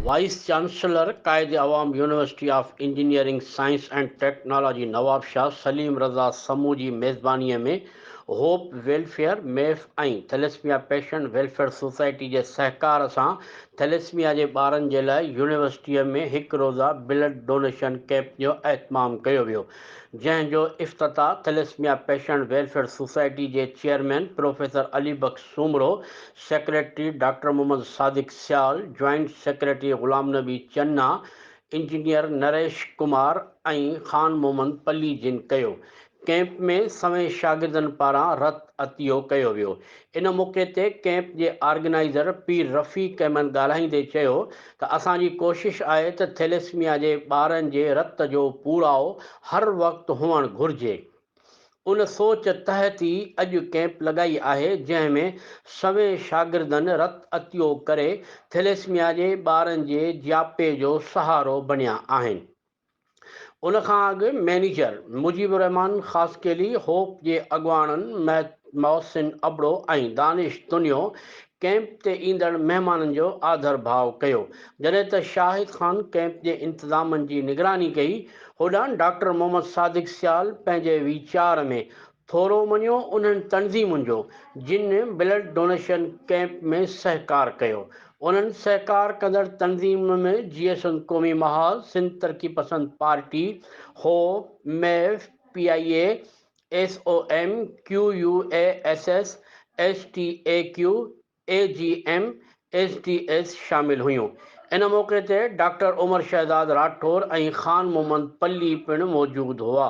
Vice chancellor Quaid Awam university of engineering science and technology Nawabshah Saleem Raza Samoon جي ميزباني ۾ hope welfare ميف ۽ thalassemia patient welfare society جي سهڪار سان ٿيليسميا جي ٻارن جي لاء يونيورسٽي ۾ هڪ روزه بلڊ ڊونيشن ڪيمپ جو اهتمام ڪيو ويو جنهن جو افتتاح ٿيليسميا پيشنٽ ويلفيئر سوسائٽي جي chairman professor Ali Bakhsh Soomro, secretary doctor Muhammad Sadiq Sial, joint secretary Ghulam Nabi Channa, engineer Naresh Kumar ۽ Khan Muhammad Palli جن ڪيو. ڪيمپ ۾ سوين شاگردن پاران رت عطيو ڪيو ويو. ان موقعي تي ڪيمپ جي آرگنائيزر پير رفيق احمد ڳالهائيندي چيو ته اسان جي ڪوشش آهي ته ٿيليسميا جي ٻارن جي رت جو پوڙائو هر وقت هئڻ گهرجي. ان سوچ تحت ئي اڄ ڪئمپ لڳائي آهي جنهن ۾ سوين شاگردن رت عطيو ڪري ٿيليسميا جي ٻارن جي جياپي جو سهارو بنيا آهن. ان کان اڳ مئنيجر مجيب الرحمان خاصخيلي، هوپ جي اڳواڻن محسن ابڙو ۽ دانش تنيو ڪئمپ تي ايندڙ مهمانن جو آڌرڀاء ڪيو، جڏهن ته شاهد خان ڪئمپ جي انتظامن جي نگراني ڪئي، هوڏانهن ڊاڪٽر محمد صادق سيال پنهنجي ويچار ۾ ٿورو مڃيو انهن تنظيمن جو جن بلڊ ڊونيشن ڪئمپ ۾ سهڪار ڪيو. انهن سهڪار ڪندڙ تنظيمن ۾ J S N Qaumi Mahaz, Sindh Taraqi Pasand party, حو، ميف، P I A, S O M, Q U A S S, S T A Q, A G M, S D S شامل هيون. ان موقعي تي ڊاڪٽر عمر شهزاد راٺور ۽ خان محمد پلي پڻ موجود هئا.